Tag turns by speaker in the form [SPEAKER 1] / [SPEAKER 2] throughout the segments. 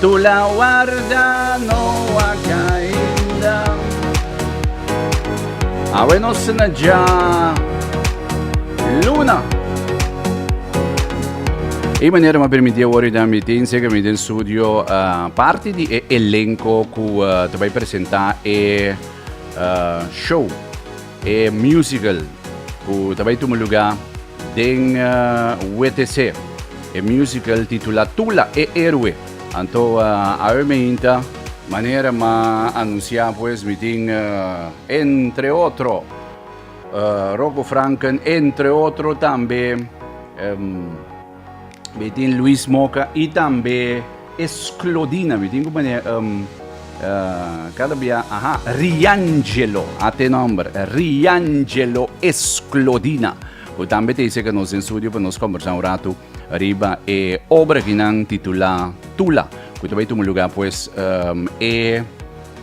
[SPEAKER 1] Tu la warda no a cainda. Awe nos na dja luna. E manera ma permiti awor i tambi tin seker mi den studio uh, parte di e elenco cu uh, te bay presenta e uh, show E musical cu ta bay tuma luga den WTC, e musical titula Tula e Eroe. Anto a oe mi hinta, manera ma anuncia pues mi tin entre otro Rocco Franken, entre otro tambe. Be tin Luis Moca y tambe Esclodina. Be tin como ne um, uh, cada via, aha, Riangelo, ate nombre, Riangelo Esclodina. Ku tambe te dice que nos en studio pa nos conversar un rato riba e obra que nan titula Tula. Ku te bai tu lugar pues um, e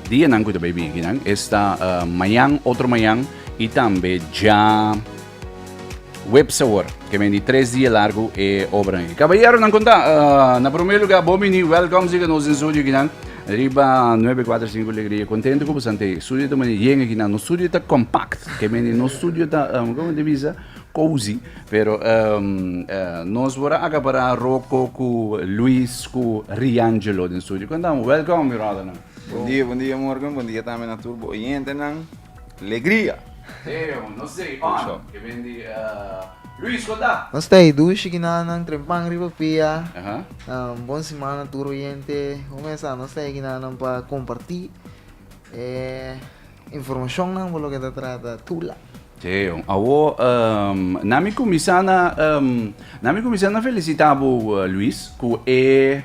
[SPEAKER 1] dia nan ku te bai bien que nan esta uh, mañan, otro mañan y tambe ya Web Sabor, ke men di tres dia largu e obranan. Kabayeronan kon ta, ah, na promé lugá bon bini, wèlkòm siga nos den studio kinan, riba Nuebe Kuater Sinku Legria. Kontentu ku bostante studio ta manera yenga kinan. Nos studio ta kompakt, ke men di nos studio ta, um, komo ta bisa? Cozy. Pero, um, eh, nos por a akapará Roko ku Luis ku Riangelo den studio. Kon ta amo, wèlkòm, brodernan. Bon dia, bon dia
[SPEAKER 2] Morgan, bon dia tambe na tur bo oyentenan.
[SPEAKER 1] Nos ta e dushi ki na
[SPEAKER 3] nan trempan riba pia bon simana tur oyente ku mesa nos ta e ki na nan pa komparti e informashon nan bo loke ta trata Tula. Teo awo
[SPEAKER 1] nan mi kuminsá nan mi kuminsá na felisitá bo Luis ku e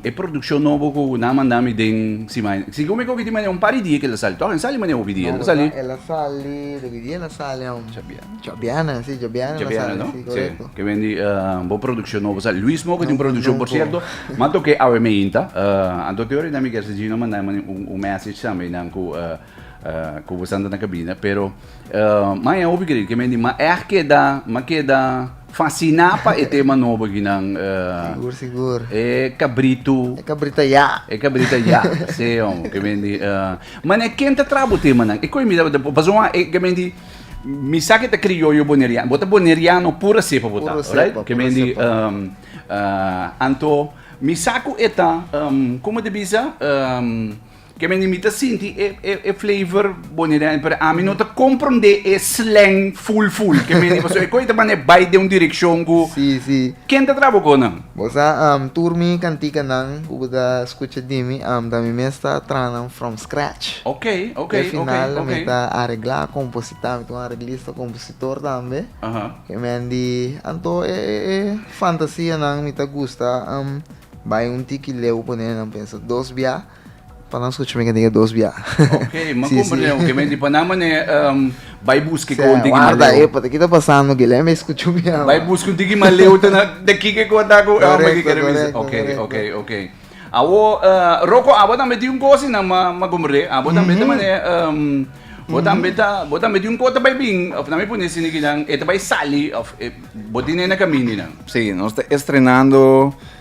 [SPEAKER 1] E produccion nobo cu nan a manda mi den simana. Si cu mi cogi di manera un par di dia cu el a sali. Toh el sali manera hopi dia el a sali. No, el a sali, de qui
[SPEAKER 3] dia el a sali aun? Djabiana. Djabiana, si, Djabiana el a sali, si, correcto. Djabiana,
[SPEAKER 1] no? Si, cu wen di bo produccion nobo sali. Luis Moga tin produccion, por cierto, m'a toca e awe meinta. Anto Theory nan mi kier si Gino a manda un message tambe nan cu Ku bo santa na kabina pero mai a hopi kere ke men di ma eh keda ma keda fasina pa e tema nobo aki nan sigur sigur
[SPEAKER 3] e kabritu
[SPEAKER 1] e kabrita ya e
[SPEAKER 3] kabrita ya se
[SPEAKER 1] om ke men di mane ken ta traha bo tema nan e koi mira paso wan e ke men di mi sa ke ta krioyo boneriano bo ta boneriano pura sepa bo ta right ke men di anto mi sa ku e ta komo ta bisa Ke mende mi ta sinti e e e flavor boni den pero ami no ta komprondé e slèng ful ful ke mende pasobra e kos ei ta manda e bai den un direkshon ku Sí, sí. ken ta
[SPEAKER 3] traha bo kos nan?
[SPEAKER 1] Bo sa, am, tur
[SPEAKER 3] mi kantikanan ku bo ta skucha di mi, am, ta mi mes ta traha nan from scratch. Ok, ok, Ke ok,
[SPEAKER 1] final mi ok.
[SPEAKER 3] ta areglá, kompositá, mi ta un areglista, kompositor tambe. Aha. Ke mende anto e e e fantasianan mi ta gusta, am, bai un tiki leu, poné nan pensa dos bia. Pa nan scucha mi gent'e dos bia. Ok, m'a comprende
[SPEAKER 1] lo que me di. Pa nan mane bai busca e conti ki m'a leu. Epa, ta ki
[SPEAKER 3] ta pasando Guilherme e scucha un bia. Bai busca un tin ki m'a leu
[SPEAKER 1] ta na ta ki ke conta cu e hombre ki kere bisa. Correcto, correcto. Ok, ok, ok. Awo Rocco abo tambe tin un cosa asina m'a comprende. Abo tambe ta mane bo tambe ta bo tambe tin un cosa ta bai bin of nan mi pone asina kinan e ta bai sali of bo tin e na caminda nan. Si, nos ta
[SPEAKER 2] estrenando.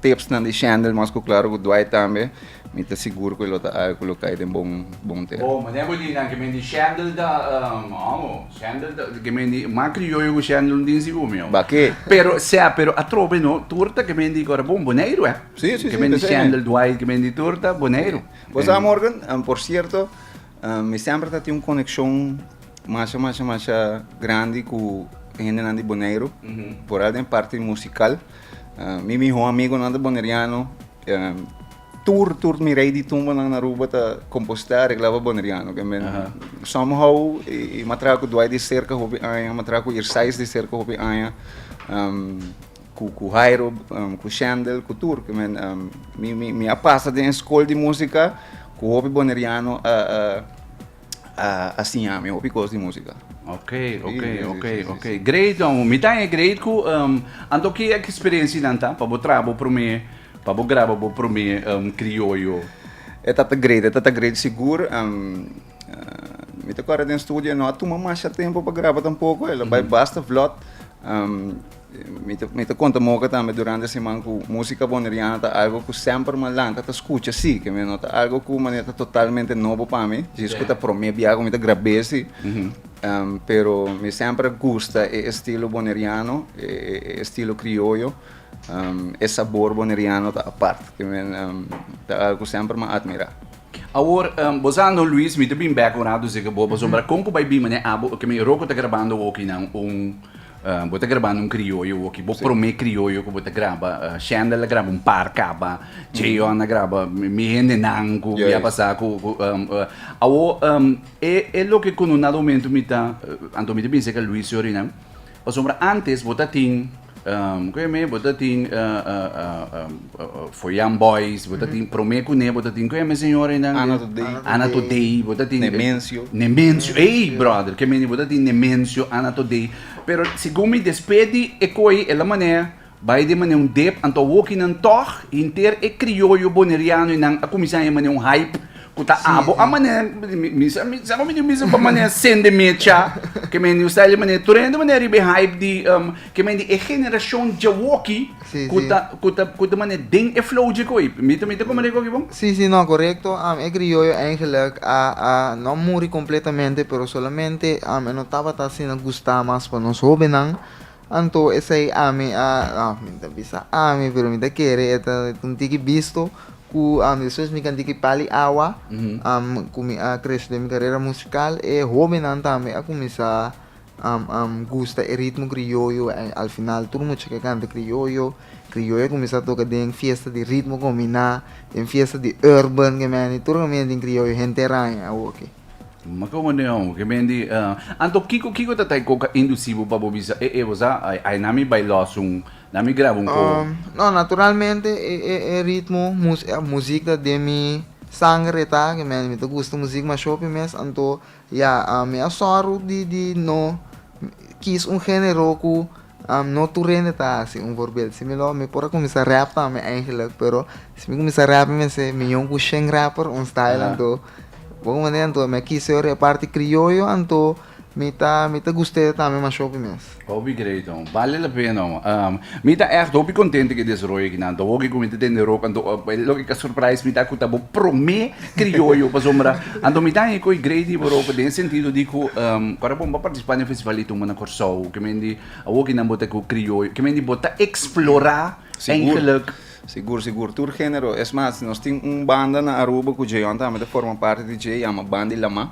[SPEAKER 2] tipsnan di Shandel mas ku klaro ku Dwight tambe, mi ta sigur ku e lo ta algu ku lo kai den bon bon tera. Bo mané bo di nan ke men
[SPEAKER 1] di Shandel ta amo, Shandel ta ke men di mas krioyo ku Shandel un tin si umi awo. Bak'é? Pero sea,
[SPEAKER 2] pero
[SPEAKER 1] atrobe no, tur ta ke men di ku ora bon Boneiru eh. Sí, sí, sí, Ke men di p'esei
[SPEAKER 2] Shandel, mi.
[SPEAKER 1] Dwight, ke men di tur ta Boneiru. Bo sa, Morgan,
[SPEAKER 2] por sierto, mi semper ta tin un konekshon masha, masha, masha grandi ku hendenan di Boneiru, foral den parti musikal. Mi mihó amigunan ta boneriano. Tur, tur mi rei di tumbanan na Aruba ta kompostá, reglaba boneriano. Ke men, somehow, i m'a traha ku Dwight di serka hopi aña, m'a traha ku Irsais di serka hopi aña, ku Hairo, ku Shendel, ku tur. Ke men, mi a pasa den e skol di músika ku hopi boneriano a. a siña mi hopi cos di música. Ok, ok,
[SPEAKER 1] ok, ok.
[SPEAKER 2] Great, no. Mi
[SPEAKER 1] tan e great ku um, anto ki ek experiencia nan ta pa bo tra bo prome, pa bo graba bo prome um, criollo. E tata
[SPEAKER 2] great, e tata great sigur. Um, uh, mi te kora den studio, no a tuma masha tempo pa graba tampoco, e lo bai basta vlot. Um, Mi ta konta Moca tambe durante e siman cu musica Boneriana ta algo cu semper malanca ta scucha si, ke mi no ta algo cu mane ta totalmente nobo pa mi, djis cu ta prome biaha cu mi ta grab'é si, pero mi semper a gusta e estilo Boneriano, e estilo Crioyo, e sabor Boneriano ta apart, ke mi ta algo cu semper m'ha admira. Awor,
[SPEAKER 1] bo sa no Luis, mi ta bin bek un rato si cu bo, pasobra con cu bay bin mane abo, ke mi roko ta grabando okinan un. Bo ta grabando un crioyo oki bo prome crioyo cu bo ta graba Shendel a graba un par caba Cheon a graba mi hende nan cu mi a pasa cu awor e loke cu no na momento mi ta anto mi ta binse ca Luis Orinan pasobra antes bo ta tin kico yo me bo ta tin Foyan Boys, bo ta tin prome kuné bo ta tin kué mi señor einan de Ana Todei Ana Todei bo ta tin Nemensio Nemensio ei brother ke mende bo ta tin Nemensio Ana Todei pero segun mi despe di e koi e la manè bai den manè un dep anto awokinan tog henter e krioyo boneriano einan a kuminsá e manè un hype Cu ta abo a manera, mi sa cu mi di mi sa pa manera sende mecha, que mi new style manera, tur hende manera riba e hype di, um, que mi di e generacion djawokki, Sí, cu sí. ta, cu ta, cu ta manera den e flow dje koe. Mi ta, mi ta como riba koe bon? Sí, sí, no, correcto.
[SPEAKER 3] Am, e criollo eigenlijk a, a, no a muri completamente, pero solamente, am, e no tabata asina gusta mas pa nos hobennan. Anto esei ami a mi ta bisa ami pero mi ta kere e ta un tiki bisto ku despues mi kanti ki pali awa ku mi a krese den mi karera musikal e hobennan tambe a kuminsá gusta e ritmo krioyo en al final tur mucha ke kanta krioyo krioyo a kuminsá toka den fiesta di ritmo kombiná den fiesta di urban ke men tur nan miran tin krioyo hente raña awoke. Ma como no
[SPEAKER 1] yao ke men di anto kiko kiko ta ta e coca inducivo pa bo bisa e e bo sa ay na mi bay los un na mi graba un coho. No naturalmente
[SPEAKER 3] e ritmo muziek ta den mi sangre ta ke me mi ta gusta muziek ma shopi mes anto ya mi a sor di di no kies un genero ku. No tur hende ta hasi un voorbeeld similor. Mi por a kuminsá rap tambe eigenlijk, pero si mi kuminsá rap mi mester mion ku shen rapper un style anto bo hopi manera anto mi a kisa yora e parti krioyo anto mi ta mi ta gust'é tambe mashopi mes. Hopi great ho,
[SPEAKER 1] bale la pena ho. Mi ta ègt hopi kontente ku e desaroyo kinan anto. Hopi ku mi ta tende ròk anto loke ka surprise mi ta ku ta bo promé Krioyo, pasobra anto mi ta haña ku e Grady Borope den e sentido di ku ora bo bo partisipá den e festival di tumba na Kòrsou, ke men di awo kinan bo ta ku krioyo, ke men di bo ta eksplorá eigelek. Sigur, sigur,
[SPEAKER 2] tur género. Es mas, nos tin un banda na Aruba ku Djeyon tambe ta forma parti di dje, yama Bandilamá.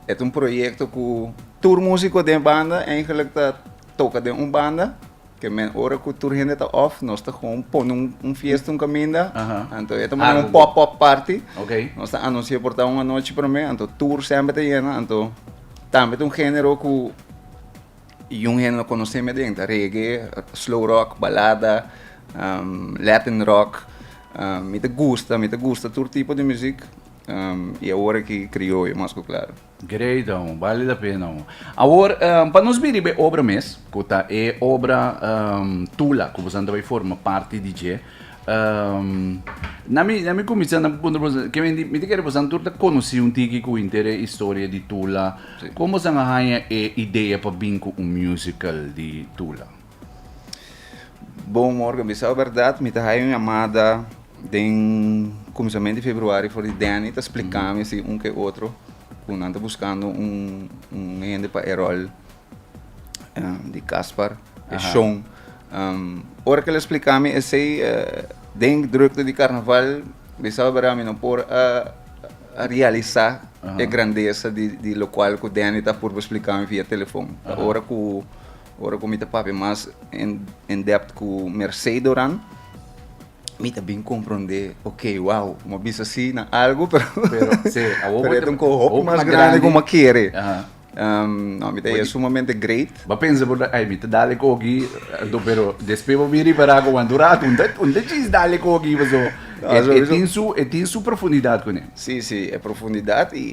[SPEAKER 2] E ta un proyekto ku tur músiko den e banda eigelek ta Toca den un banda, que men ora cu tur hende ta off, nos ta gewoon pone un, un fiesta, un caminda. Aha. Anto e ta manera un Algo. pop-up party. Ok. Nos ta anuncia
[SPEAKER 1] por ta
[SPEAKER 2] un anochi prome, anto tur semper ta yena, anto tambe ta un género cu yung hende no conoce me den, ta reggae, slow rock, balada, um, latin rock. Um, mi ta gusta, mi ta gusta tur tipo di muziek, um, y awor aki crioyo mas cu claro. Great ho,
[SPEAKER 1] bali la pena ho. Awor, pa nos biriba e obra mes, ku ta e obra Tula, ku bosan ta bai forma parti di dje. Na mi, na mi kuminsá na puntra bosan, ke mi, mi ta kere bosan tur ta konosí un tiki ku inter e historia di Tula. Kon bosan a haña e idea pa bin ku un musical di Tula?
[SPEAKER 2] Bon morgen, bisao berdad mi ta haya un llamada den cominsament di februari for di Danny ta splicami si un ke otro cu nan ta buscando un, un hende pa e rol um, di Caspar, e Aha. Sean. Um, ora que le splicami esey, uh, den drukte di carnaval, bisao berdad mi no por a, a realisa Aha. e grandeza di, di locual cu Danny ta purba splicami via telefon. Ta Aha. ora cu Ora ku mi ta papia mas en depth ku Mercey Doran, mi ta bin komprondé, ok, wow, mi a bisa si na algu, pero e ta un kohop mas grandi ku mi a kere. No, mi ta e sumamente great. Bo a pensa por ai, mi
[SPEAKER 1] ta dal e koki, anto, pero despues bo a bin ripará ku bo anto ratu, un ta djis dal e koki pasobra e tin su profundidat kuné. Sí, sí, e
[SPEAKER 2] profundidat i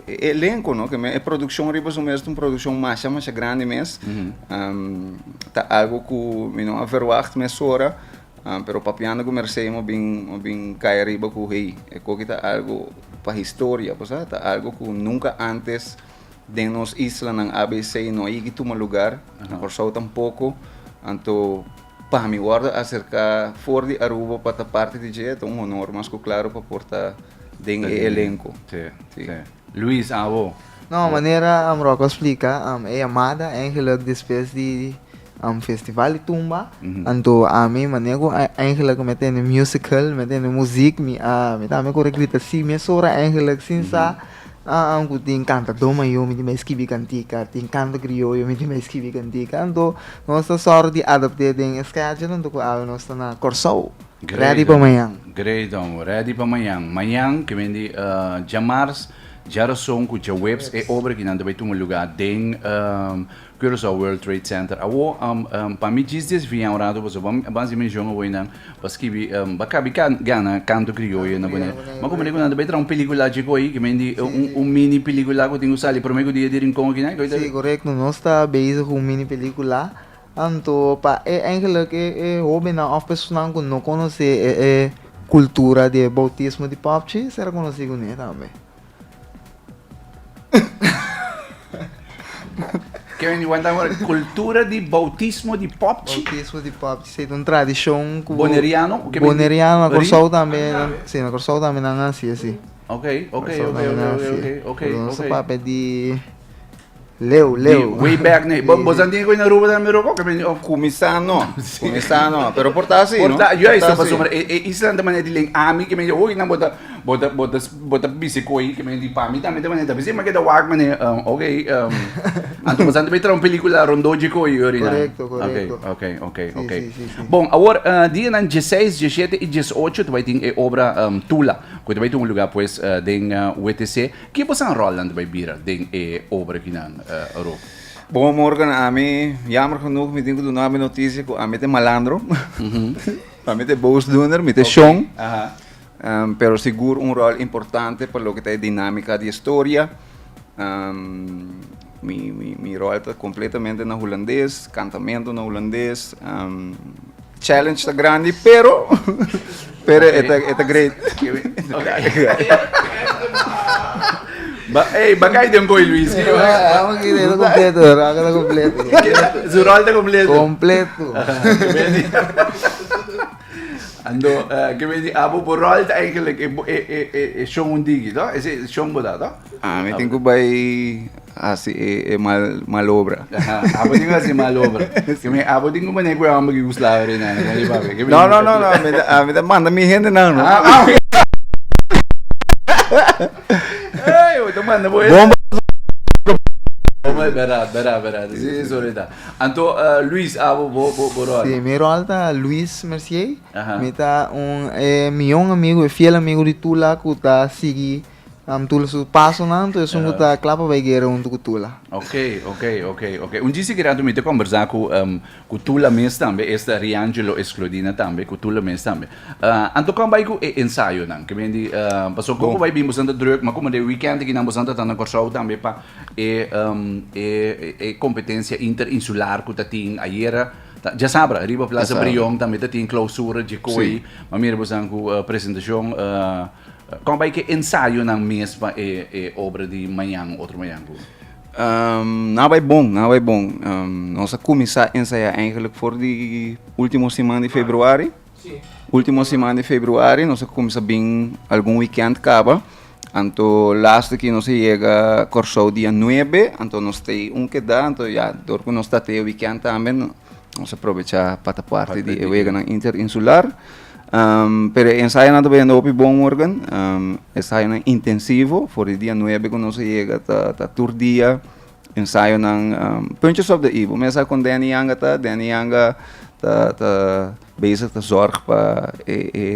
[SPEAKER 2] e elenko, no, ke men e produkshon riba su mes ta un produkshon masha, masha grandi mes. Ta algu ku mi no a verwagt mesora, pero papiando ku Mercé mi a bin, mi a bin kaya riba ku hey, e koki ta algu pa historia, pasá ta algu ku nunka ántes den nos islanan ABC no a yegi tuma lugar, na Kòrsou tampoko. Anto Pa mi wordo acerca for di Aruba pa ta parti di dje ta un honor mas cu claro pa por ta den e elenco. Sí, sí.
[SPEAKER 1] Luis, awo? No,
[SPEAKER 3] manera Rocco a splica, e yamada eigenlijk despues di Festival di Tumba, anto ami manera cu eigenlijk mi a tende musical, mi a tende muziek, mi a, mi ta ami cu a grita sí mes ora eigenlijk sin sa An ku tin kantadó mayó mi tin bai skibi kantika, tin kanto krioyo mi tin bai skibi kantika, anto nos ta sòru di adapt'é den e schedule anto ku awe nos ta na Kòrsou, rèdi pa mañan. Grei don, rèdi
[SPEAKER 1] pa mañan. Mañan, ke mindi djamarz, djaroson ku djaweps e obra kinan ta bai tuma lugá den. Curaçao World Trade Center awo pa mi djis dies via orado pasobra bo a hasi menshon awo nan pa skibi ba kabi gana canto crioyo na Boney ma como rico nan ta bay traha un peliculachi cu ayi kimen di un mini pelicula cu tin cu sali prome cu dia di rincon aki nan si corecto nos ta
[SPEAKER 3] bezig cu un mini pelicula anto pa e eigenlik e e hoben nan of personanan cu no conoce e e cultura di e bautismo di papchi ser a conoci cune tambe.
[SPEAKER 1] Kemi mi wanta hora kultura di bautismo di popchi. Bautismo di popchi, si
[SPEAKER 3] un tradishon ku Boneriano, kemi
[SPEAKER 1] Boneriano na Kòrsou
[SPEAKER 3] tambe, si na Kòrsou tambe nan hasi así. Okay, okay,
[SPEAKER 1] okay, okay, okay,
[SPEAKER 3] okay. Pero no sa papia di Leu, leu. Di way back
[SPEAKER 1] ne. Bo, bosa tin ku na Aruba tambe roko ke bini of. Kuminsá no.
[SPEAKER 2] Kuminsá no. Pero por ta asi, no? Por ta, juist, no pasobra e,
[SPEAKER 1] e isla ta manera di len ami ke mi di oi nan bo ta, bo ta, bo ta, bo ta bis'e ku ei ke mi di pa mi tambe ta manera ta bis'e. Mi keda wak manera, um, ok, um, anto bosa ta bay traha un pelikula Rondó dje ku ei yori nan. Korekto, korekto. Ok, ok, ok, ok. Si, si, si, si. Bon, awor, eh, dianan dieseis, diesiete i diesocho ta bay tin e obra, um, Tula, ku ta bay tin un lugá, pues, den WTC. Ki bo san rolnan ta bai bira den e obra akinan, Rob? Bon morgen,
[SPEAKER 2] ami, jammer genoeg, mi tin ku duna mi noticia ku ami ta e malandro. Pa mi ta e boosdoener, mi ta e shon. Pero sigur un rol importante pa loke ta e dinamika di e storia. Mi rol ta completamente na Hulandes, cantamento na Hulandes. Challenge ta grandi, pero pero e ta great.
[SPEAKER 1] Ba, hey, ba kijk den boy Luis. Hey, vamos que de
[SPEAKER 3] completo, raga de completo. Su
[SPEAKER 1] rol de completo. Completo. Ando, uh, que me di, abo bo rol eigenlijk e e e e shon un digi, no? Ese shon bo da, no? Mi tin ku bai
[SPEAKER 2] hasi e malobra. Abo tin ku hasi e
[SPEAKER 1] malobra. Abo tin ku manera ku e hòmber ku Yugoslávia reina. No, no, no, no.
[SPEAKER 2] Mi ta manda mi hendenan. Ey, mi
[SPEAKER 1] ta manda bo hendenan. Bèrdad, bèrdad, bèrdad. Si, si, sorry ta. Anto, Luis, abo bo, bo, bo ròl? Si, mi ròl ta
[SPEAKER 3] Luis Mercier. Mi ta un, e mion amigu, e fiel amigu di tur lak ku ta sigui. Am tula su pasonan, to esun ku ta kla pa bai guera huntu ku tula. Ok, ok,
[SPEAKER 1] ok, ok. Un djis di rato mi ta kombersá ku, em, ku tula mes tambe, esta Riangelo Escludina tambe, ku tula mes tambe. Ah, anto kon bai ku e ensayonan? Ke men di, ah, paso koko bai bin boso nan ta drùk, ma komo den wikènt aki nan boso nan ta tanda Kòrsou tambe pa e, em, e, e kompetensia interinsular ku ta tin ayera, ta, djasabra, riba Plaza Brion tambe ta tin klousura, djikoy, ma mira boso nan ku presentashon, ah. Kon a bai ku e ensayonan mes pa e obra di mañan, otro mañan ku?
[SPEAKER 2] Nan a bai bon, nan a bai bon. Nos a kuminsá ensayá eigenlijk for di último siman di februari. Último siman di februari nos a kuminsá bin algun wikènt kaba. Anto lasta ki nos a yega Kòrsou dia nuebe, anto nos ta e un keda, anto ya dor ku nos ta e wikènt tambe nos a probechá pa ta parti di e weganan interinsular. pero e ensayonan ta biendo hopi bon morgan ensayonan intensivo for di dia nuebe ku nos a yega ta tur dia ensayonan punches op de i bo mesa kon deni yanga ta deni yanga ta ta bezig ta zorg pa e e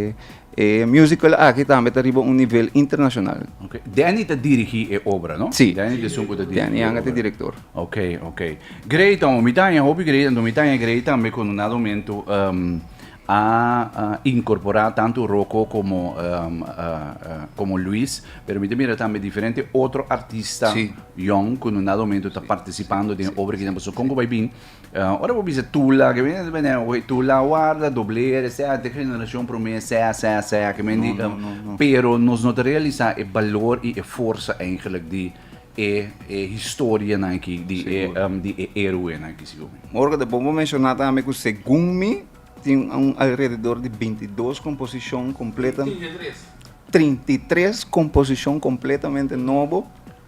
[SPEAKER 2] e musical aki tambe ta riba un nivel internashonal deni ta
[SPEAKER 1] dirigi e obra no si deni de sunku ta dirigi e
[SPEAKER 2] obra deni
[SPEAKER 1] yanga ta direktor
[SPEAKER 2] okay okay
[SPEAKER 1] grei ta homi ta haña hopi grei anto mi ta haña grei tambe ku nada un mentu. a incorpora tanto Rocco como como Luis pero mi ta mira tambe diferente otro artista yong cu no na momento ta participando den e obra aki pasobra con cu bay bin ora bo bisa Tula kimen di bay nan oye Tula warda Dobler esey ante generacion prome sea sea sea kimen di pero nos no ta realisa e balor y e forsa eigenlijk di e historianan aki di e di e heroenan aki sigur. Ora ku ta bon pa menshona
[SPEAKER 2] tambe ku segun mi tin un alrededor di binti i dos komposishon kompleto. Trinta i tres. Trinta i tres komposishon kompletamente nobo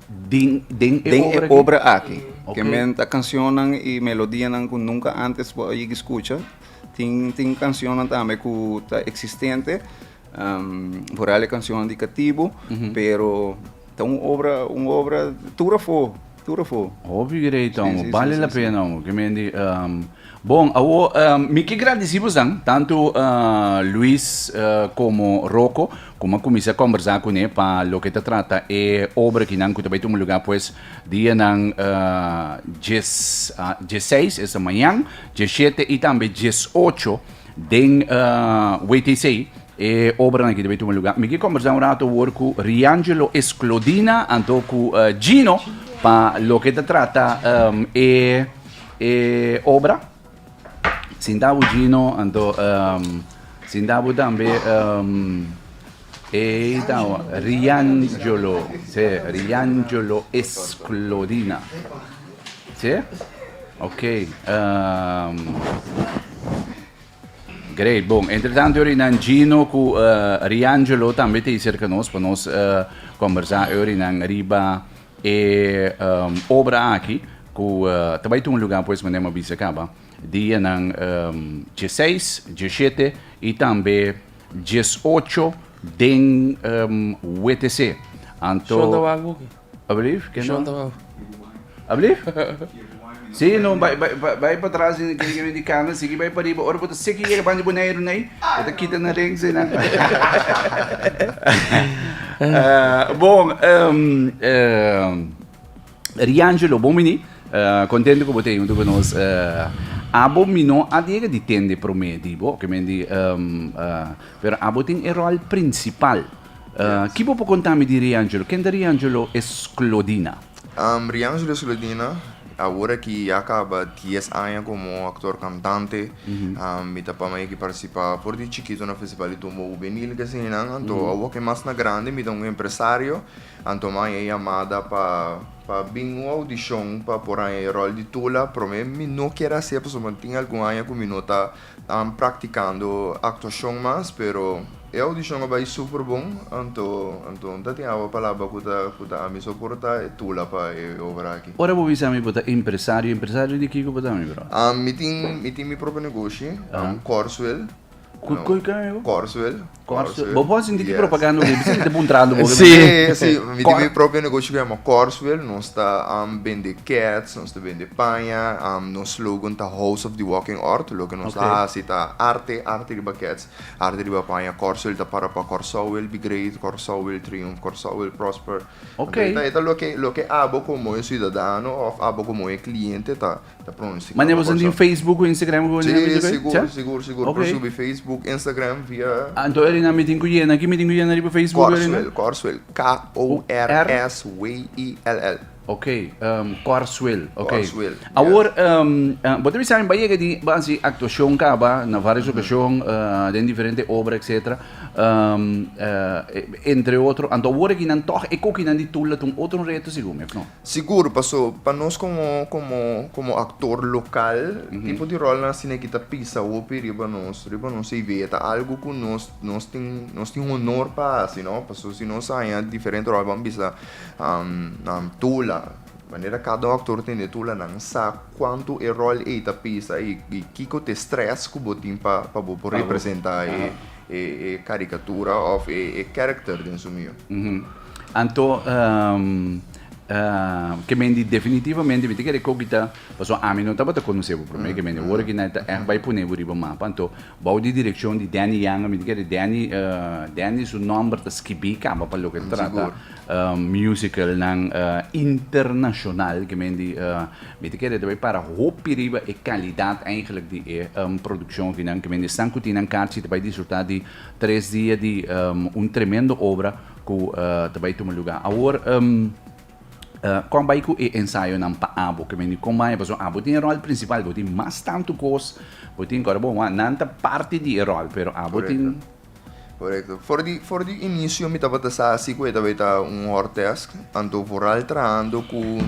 [SPEAKER 1] den den e obra
[SPEAKER 2] aki. Ke men ta kanshonnan i melodianan ku nunka antes por a yegi skucha. Tin tin kanshonnan tambe ku ta eksistente Vooral e cancionnan di Catibu, pero ta un obra, un obra tur afó, tur afó. Oh,
[SPEAKER 1] figu'rei ta, hombre. Bale la pena, hombre. Ke men di. Bon, awo, mi ke gradisi boes nan, tantu Luis komo Roko, ku mi a kuminsá kòmbersá kuné pa loke ta trata e obra aki nan ku ta bai tuma lugá pues dianan dieseis, esta mañan, diesshete i tambe diesocho. Den WTC e obranan aki ta bay tuma lugar. Mi ki conversa un rato awor cu Riangelo Esclodina anto cu eh, Gino pa lo que ta trata em, e, e obra. Sintabo Gino anto em, sintabo tambe em, Ei ta un rianjolo, se, rianjolo esklodina. Se? Ok. Um, Great, bon. Entretanto, ori nan Gino ku uh, eh, Riangelo tambe te cerca nos pa nos uh, eh, conversa ori nan riba e um, obra aki ku uh, eh, tabai tu un lugar pues menem bisa kaba. Dia nan um, 16, 17 i tambe Dies ocho den WTC. Anto. Shonda wak hoki. Alblief? Ken Shonda wak hoki. Alblief? Si, no, bai, bai, bai pa tras den ken ke wen di kamer, sigui bai pa riba. Ora bo ta seki yega bandi Boneiru nei, bo ta kita na rings ei nan. Bon, Riangelo, bon bini. Contento cu bo ta junto cu nos. Abo mi no a diega di tende prome di bo, oke men di, pero abo tin e rol principal. Ki bo por conta mi di Riangelo? Ken ta Riangelo Esclodina? Riangelo
[SPEAKER 4] Esclodina, awor aki ya a caba dies aña como actor cantante. Mi ta pama yeki participa for di chikito na Festival di Tumbo Juvenil, kesinan. Anto awor ke mas na grandi mi ta un empresario. Anto Maya e yamada pa pa bin un audishon pa por haña e ròl di Tula. Promé mi no kier hasié pasobra tin algun aña ku mi no ta praktikando aktuashon mas, pero e audishon a bai super bon. Anto anto no ta tin awa palabra ku ta ku ta ami soportá e Tula pa e obra aki. Ora bo bisa mi bo ta
[SPEAKER 1] empresario, empresario di kiko bo ta mi bro? Mi tin mi tin
[SPEAKER 4] mi propio negoshi, Corsuel. Cu, cu, cu, amigo? Corswell. Corswell.
[SPEAKER 1] Bo bo sinti yes. propaganda bo, bisa te puntrando bo. Sí, sí,
[SPEAKER 4] mi Cor... mi propio negocio que llama Corswell, nos está um, vende cats, nos está vende paña, um, nos slogan ta House of the Walking Earth, lo que nos okay. hace ta arte, arte riba cats, arte riba paña, Corswell ta para pa Corsowell, Be Great, Corsowell, Triumph, Corsowell, Prosper. Okay. Entonces, lo
[SPEAKER 1] que lo que
[SPEAKER 4] abo como un ciudadano of abo como un cliente ta ta pronto si Mane bo sinti in Facebook
[SPEAKER 1] ku Instagram ku si sigur sigur sigur
[SPEAKER 4] okay. por subi Facebook Instagram via ah, Anto eri na mitin ku
[SPEAKER 1] yena ki mitin ku yena riba Facebook Korswell Korswell K
[SPEAKER 4] O R S W E L L Ok,
[SPEAKER 1] um, Korswell. Okay. Korswell. Awor, yes.
[SPEAKER 4] um,
[SPEAKER 1] uh, bo te bisa ba yega di ba si actuación kaba na varias mm -hmm. ocasión, uh, den diferente obra, etc. Um, uh, entre otro, anto awor ki nan toch e koki nan di tula tun otro reto según me, no? Sigur, paso
[SPEAKER 4] pa nos komo komo komo aktor lokal, tipo di ròlnan asina e kita pisa hopi riba nos riba nos CV. E ta algu ku nos nos tin nos tin honor pa hasi, no? Paso si nos a haña diferente ròl ban bisa tula, manera kada un aktor tin e tula, nan sa kuantu e ròl ei ta pisa i kiko t'e strès ku bo tin pa bo por representá e. e e karikatura òf e e kèrekter den su mio. Anto,
[SPEAKER 1] ke mende definitivamente mi ta kere koki ta, pasobra ami no tabata konosé bo promé, ke mende ora ke nan ta ègt bai pon'é bo riba mapa, anto bou di direkshon di Danny Yanga, mi ta kere Danny, Danny su nòmber ta skibí kaba pa loke ta trata musikalnan internashonal ke mende. Mi ta kere ta bai para hopi riba e kalidat eindelijk di e produkshon di nan, ke men esnan ku tin nan karchi ta bai disfrutá di tres dia di un tremendo obra ku ta bai tuma lugá. Awor kon bai ku e ensayonan pa abo, ke men di kon baña pasobra abo tin e ròl prinsipal, bo tin mas tantu kos, bo tin kos, bo wak nan ta parti di e ròl, pero abo tin Korekto.
[SPEAKER 4] For di for di inisio mi tabata sa si ku e ta bay ta un hortèsk, anto vooral trahando ku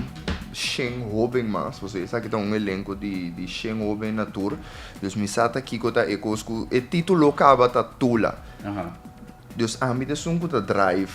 [SPEAKER 4] shen hóben mas, pasobra e sa ki ta un elenko di di shen hóben na tur, dus mi sa ta kiko ta e kos ku e título kaba ta Tula. Dus ami ta esun ku ta drive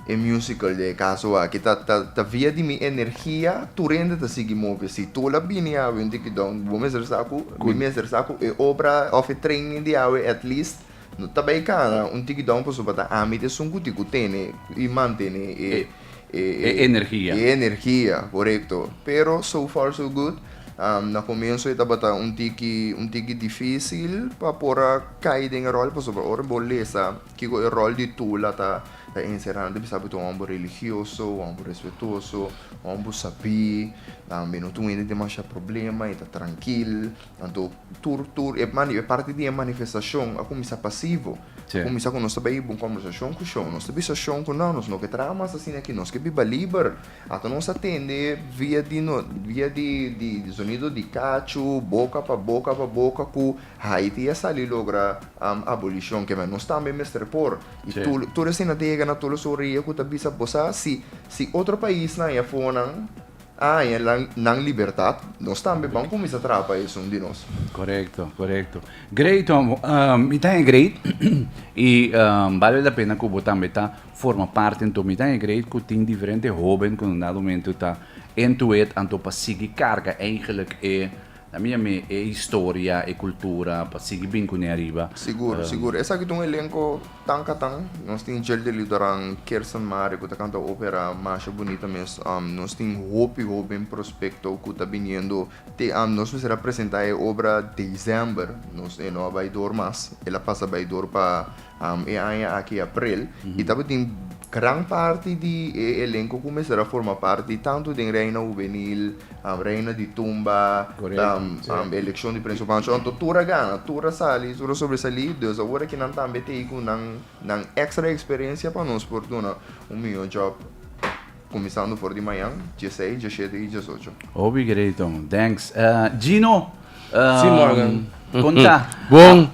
[SPEAKER 4] e musical den e kaso aki ta ta ta via di mi energia tur hende ta sigui move. Si Tula bini yawe un dikidòn bo mester sa ku mi mester sa ku e obra òf e training di yawe at least No ta bay cara un tikidon pasobra ta ámbito esun guti cu tene y mantene e, e, e, e energia. E
[SPEAKER 1] energia, correcto. Pero
[SPEAKER 4] so far so good. Um, na comienzo e tabata un tiki, un tiki difícil pa por a cay den e rol pasobra ora bo lesa kico e rol di tula ta, ta encerra nan ta bisa bo ta un homber religioso, un homber respetuoso, un homber sabí, um, e no ta wende demasha problema, e ta trankil. Anto, tur, tur e mani, e parti di e manifestashon a kuminsá pasivo. Sí. Kuminsá ku nos ta bai un kombersashon ku shon. Nos ta bisa shon ku nau, nos no ke traha mas asina aki, nos ke biba liber. Ato nos a tende via di no, via di, di, di sonido di kachu, boka pa boka pa boka ku Haiti a sali logra abolishon. Kema, nos tambe mester por. I tur, tur, tur asina ta yega na tur los orea ku ta bisa, bo sa si, si otro paisnan ayafó nan, A haña nan libertat, nos tambe ban kuminsá traha pa esun di nos. Korekto, korekto.
[SPEAKER 1] Great Tom, mi ta haña great i bale la pena ku bo tambe ta forma parti anto mi ta haña great ku tin diferente hóben ku un dado momento ta entu'et anto pa sigui karga eigenlik e Na mira mi e historia, e cultura pa sigui bin cune ariba. Sigur, sigur. Esaki
[SPEAKER 4] ta un elenco tan catan. Nos tin Jel de Lidoran, Kirsten Mare cu ta canta opera masha bunita mes. Nos tin hopi hoben prospecto cu ta biniendo te am. Nos mester a presenta e obra December. Nos e no a bay door mas. El a pasa bay door pa. e aña aki aprel, i tabatin gran parti di e elenko ku mester a forma parti tantu den Reina Hubenil, Reina di Tumba, Elekshon di Prensa Pancho, anto tur a gana, tur a sali, tur a sobresalí, dus awor aki nan tambe ta ei ku nan ekstra eksperensia pa nos por duna un mihó jòb. Kuminsando for di mañan, djesei, djeshete i djesocho. Hopi greton.
[SPEAKER 1] Thanks. Gino,
[SPEAKER 5] konta,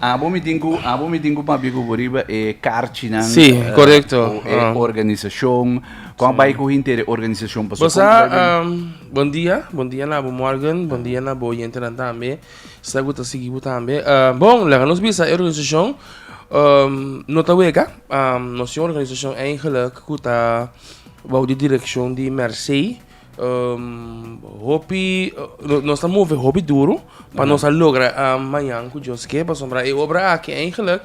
[SPEAKER 1] abo
[SPEAKER 5] mi tin ku
[SPEAKER 1] abo mi tin ku papia ku bo riba e karchinan, e
[SPEAKER 5] organisashon,
[SPEAKER 1] kon a bai ku henter e organisashon pasobra kon ku bai bini.
[SPEAKER 5] Bon dia, bon dia na abo Morgan, bon dia na bo oyentenan tambe, esei ku ta sigui bo tambe. Bon, laga nos bisa e organisashon no ta wega, nos tin un organisashon eigelik ku ta. Bou di direkshon di Mercé hopi nos ta move hopi duru pa nos a logra mañan ku Dios ke pasobra e obra aki eigenlik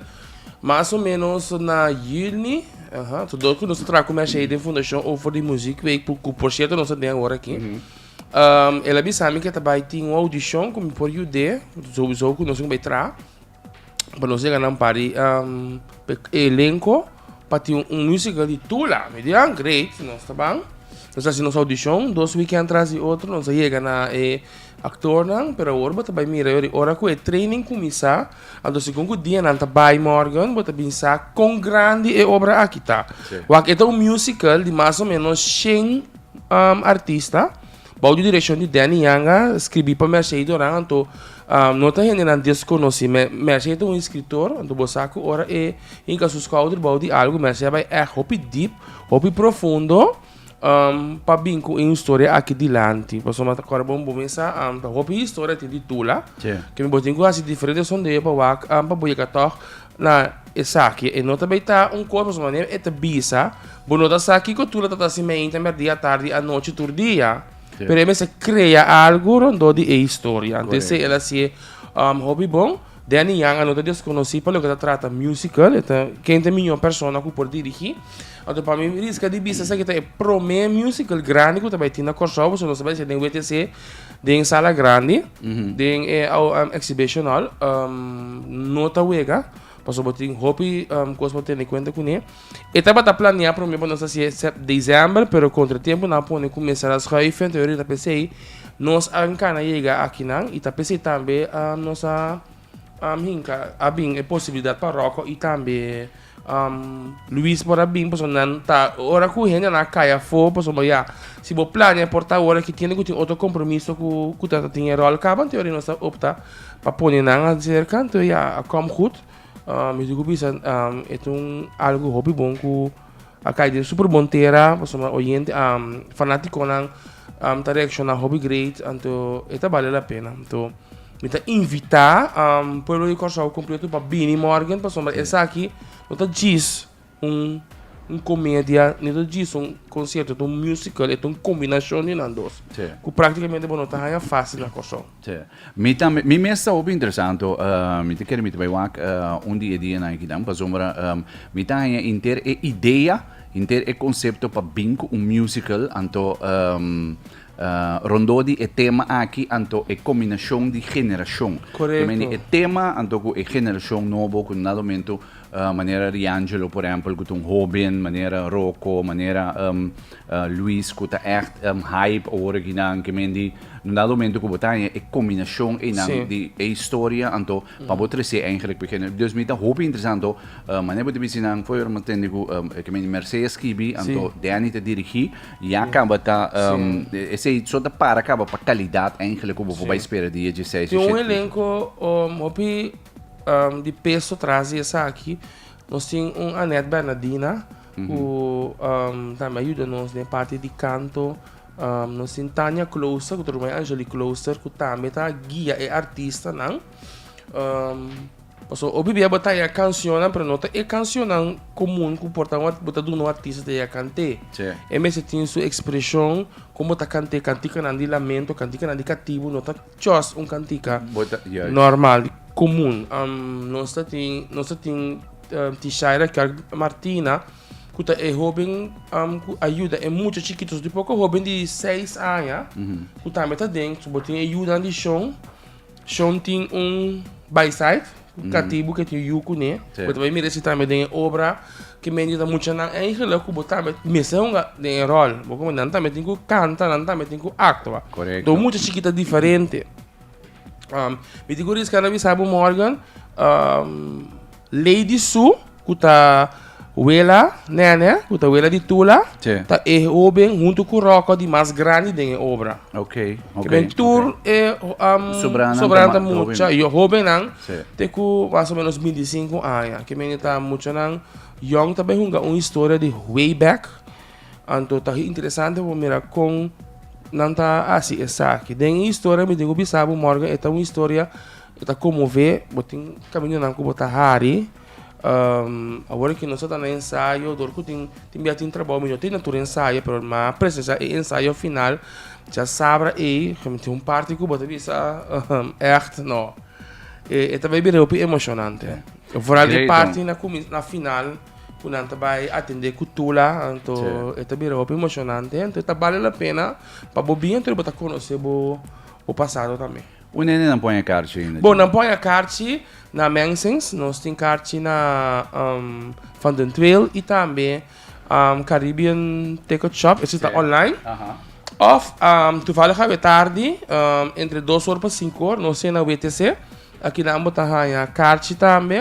[SPEAKER 5] mas o menos na yüni to dor ku nos ta traha ku Mercé den fundashon over di muzik week ku por sierto nos ta den awor aki el a bisa mi ke ta bai tin un audishon ku mi por yud'é souso ku nos tin ke bai traha. pa nos yega nan pari e elenco pa tin un musical di Tula. Mi di, ah, great, nos ta ban. Nos a haci nos audition, dos weekend tras di otro, nos a yega na e actornan, pero awor bo ta bai mira e ora cu e training cuminsa, anto segun cu dia nan ta bai morgen, bo ta bin sa con grandi e obra aki ta. Wak e ta un musical di mas o menos shen artista, Bou di direkshon di Danny Yanga, skribí pa Mercedo Ran anto no ta hendenan deskonosí. Merce ta un eskritor, anto bo sa ku ora e hinka su skouder bou di algu, Merce a bai ègt hopi dip, hopi profundo pa bin ku un storia aki dilanti. Pasobra mi a ta kòrda bo un bominsa, ta hopi historia tin di Tula, ke bo tin ku hasi diferente sondeo pa wak pa bo yega tòg Na esaki e no ta bay ta un cos pasobra manera e ta bisa bo no ta sa kico tur lo ta ta haci mainta merdi atardi anochi tur dia Sí. pero e mester crea algo rondó di e historia antes Correcto. el haci e um, hobby bon Danny Yang a no ta desconoci pa loke ta trata musical e ta ken ta miño persona cu por dirigi anto pa mi risca di bisa esaki ta e prome musical grandi cu ta bay tin na Corsou pasobra nos ta bay haci den WTC Den sala grandi, den e exhibition hall, no ta wega, pasobra tin hopi cos pa tene cuenta cune. E tabata planea prome pa nos ta haci'e december, pero contratiempo nan a pone cu mester a schuifen, ta yori ta pesey nos a cana yega akinan y ta pesey tambe nos a. Am hinka a bin e posibilidad pa Rocco y tambe Luis por a bin pasobra nan ta ora cu hende nan a cay afo pasobra ya si bo plania por ta ora ki tiene cu tin otro compromiso cu cu ta ta tin e rol caba anto yari nos a opta pa pone nan a cerca anto ya a com good mi dico bisa e ta un algo hopi bon cu a kai den super bon tera pasobra nan oyente fanaticonan ta reacciona hopi great anto e ta bale la pena anto mi ta invita pueblo di Kòrsou completo pa bini morgen pasobra esaki no ta djis un comedia ni ta djis un concierto ta un musical e ta un combinacion di nan dos cu practicamente bo no ta haya faci na Kòrsou. Sí. Mi tambe, mi
[SPEAKER 1] mes ta hopi interesanto, mi ta kere mi ta bai wak un di e dia na Hikinan, pasobra mi ta haña henter e idea, henter e konsepto pa bin ku un musical, anto rondó di e tema aki, anto e kombinashon di generashon. Korekto. Ke mende e
[SPEAKER 5] tema anto
[SPEAKER 1] ku e generashon nobo ku nada momento Manera Riangelo por ehempel cu ta un hoben, manera Rocco, manera Luis cu ta echt hype awor aki na Ankemendi. Un dado momento cu bo ta haña e combinacion eynan di e historia anto pa bo trece eigenlijk pa e genero. Dus mi ta hopi interesá anto manera bo ta bisti nan fo'i ora mi tende cu Ankemendi Mercé a skibi anto Danny ta dirigi ya caba ta esey so ta para caba pa calidad eigenlijk cu bo por bay spera di JC. Tin un elenco
[SPEAKER 5] hopi di peso tras di esaki nos tin un Annette Bernadina ku tambe a yuda nos den parti di kanto. Nos tin Tania Closer ku ta ruma di Angelie Closer ku tambe ta guia e artistanan. Pasobra hopi bia bo ta haña kanshonnan pero no ta e kanshonnan komun ku por ta bo ta duna un artista ta yega kant'é. E mester tin su ekspreshon kon bo ta kant'é kantikanan di lamento, kantikanan di katibu no ta. Chos, un kantika normal, komun. Nos ta tin, nos ta tin T-Shay Raquel Martina, ku ta e hóben ku a yuda e mucha chikitu. So tin poko hóben di seis aña ku tambe ta den. So bo tin e yudanan di Shon. Shon tin un baisaid. Un katibu ke tin yu kuné. Bo ta bai mira esei tambe den e obra ke medio ta mucha nan eigenlijk ku bo tambe mester hunga den e ròl. Bo komo nan tambe tin ku kanta, nan tambe tin ku aktua. Korekto. Mucha chikit ta diferente. Mi tin ku riska na bisa bo Morgan, lei di su. Ku ta wela Nènè, ku ta wela di Tula, ta e hóben huntu ku Ròkò di mas grandi den e obra. Kimin
[SPEAKER 1] tur
[SPEAKER 5] e sobranan ta mucha hóbennan te ku mas o ménos binti i sinku aña. Kimin e ta muchanan yòn. Ta bai hunga un historia di way back. Anto ta interesante pa bo mira kon nan ta hasi esaki. Den e historia mi tin ku bisa bo Morgan e ta un historia ku ta konmové. Bo tin kaminyonan ku bo ta hari. Awor aki nos a ta na ensayo dor cu tin tin bia tin trabao mijo tin na tur ensayo pero ma presesa e ensayo final cha sabra ey cu tin un parti cu bo ta bisa echt no e ta bai bira hopi emocionante vooral e parti na comi na final cu nan ta bai atende cu tula anto e ta bira hopi emocionante anto e ta bali la pena pa bo bin anto di bo ta conoce bo bo pasado tambe. Un hende nan pon e
[SPEAKER 1] karchi ainda? Bon, nan pon e karchi
[SPEAKER 5] na Mensings, nos tin karchi na Van den Trail i tambe Caribbean Takeout Shop, esei ta online. Òf, tuvalig awe tardi, entre dos or pa sinku or, nos tin e na WTC, aki nan bo ta haña karchi tambe.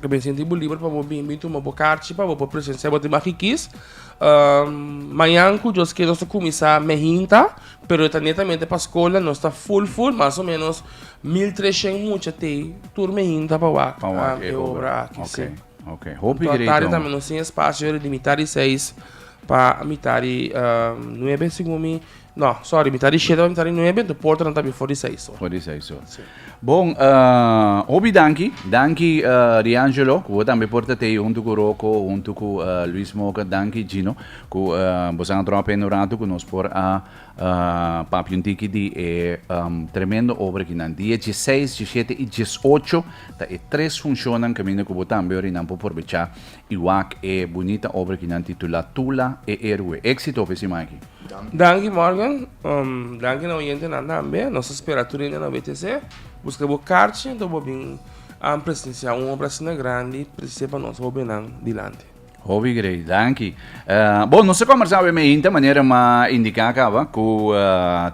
[SPEAKER 5] Ke bin sinti bo liber pa bo bin bin tuma bo karchi pa bo por presensia bo tin bakikis. Mañan ku Dios ke nos ta kuminsá mei hinta, pero e ta netamente pa skola, nos ta ful ful, mas o ménos mil treshent mucha t'ei tur mei hinta pa wak e obra aki, si. Hopi greet awor. Tari
[SPEAKER 1] tambe nos
[SPEAKER 5] tin e spasio riba mitad di seis pa mitad di nuebe segun mi. No, sorry, mi ta di shete, mi ta di nuebe, enton portanan ta before di seis or. For di seis or. Sí.
[SPEAKER 1] Bon, uh, hopi danki. Danki uh, Riangelo, ku tambe por ta tei huntu ku Roko, huntu ku uh, Luis Moga. Danki Gino, ku uh, bosan a tropa en rato ku nos por a uh, papi un tiki di e um, tremendo obra ki nan. Dia 16, 17 i 18 ta e tres funcionnan kaminda ku bo tambe ori nan por porbecha I wak e bunita obra ki nan titulá Tula e Héroe. Éxito pe siman aki! Danki Morgan,
[SPEAKER 5] danki na oyentenan tambe. Nos ta spera tur hende na BTC buska bo karchi enta bo bin a presenciá un obra asina grandi precisé pa nos hóbennan dilanti. Hopi grei,
[SPEAKER 1] danki. Bon, nos ta kòmbersá awe meinta, manera m'a indiká caba, ku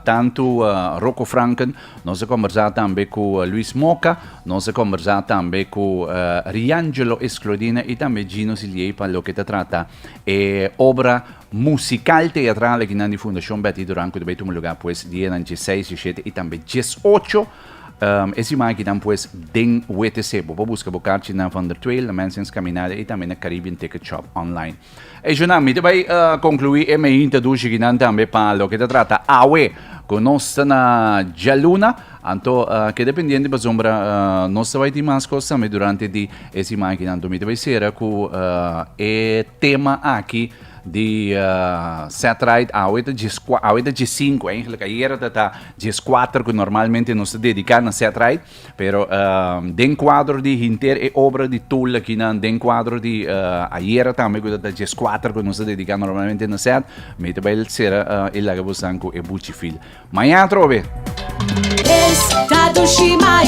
[SPEAKER 1] tantu Rocco Franken, Nos a kombersá tambe ku Luis Moca, nos a kombersá tambe ku Riangelo Esclodina i tambe Gino Siliey pa loke ta trata e obra musikal teatral akinan di Fundashon Betty Duran ku ta bai tuma lugá pues dianan dieseis, dieshete i tambe diesocho e siman akinan pues den WTC. Bo por buska bo karchi na Van der Tweijl, na Mensing's Caminada i tambe na Caribbean Ticket Shop online. E Junan, mi ta bai conclui e mei introduci ki nan tambe pa loke ta trata awe cu nos ta na djaluna. Anto keda pendiente pasobra nos ta bai tin mas cos tambe durante di e siman ki nan. Anto mi ta bai cera cu e tema aki di Setright. Awe ta dies cua, awe ta dies sinku, eigenlijk ayera ta ta dies cuater cu normalmente nos ta dedica na Setright. Pero den kuadro di hinter e obra di tul akinan, den kuadro di ayera tambe ku ta ta dies kuater ku nos ta dediká normalmente na set, mi ta bai sera e laga bosnan ku e buchi fil. Mañana atrobe!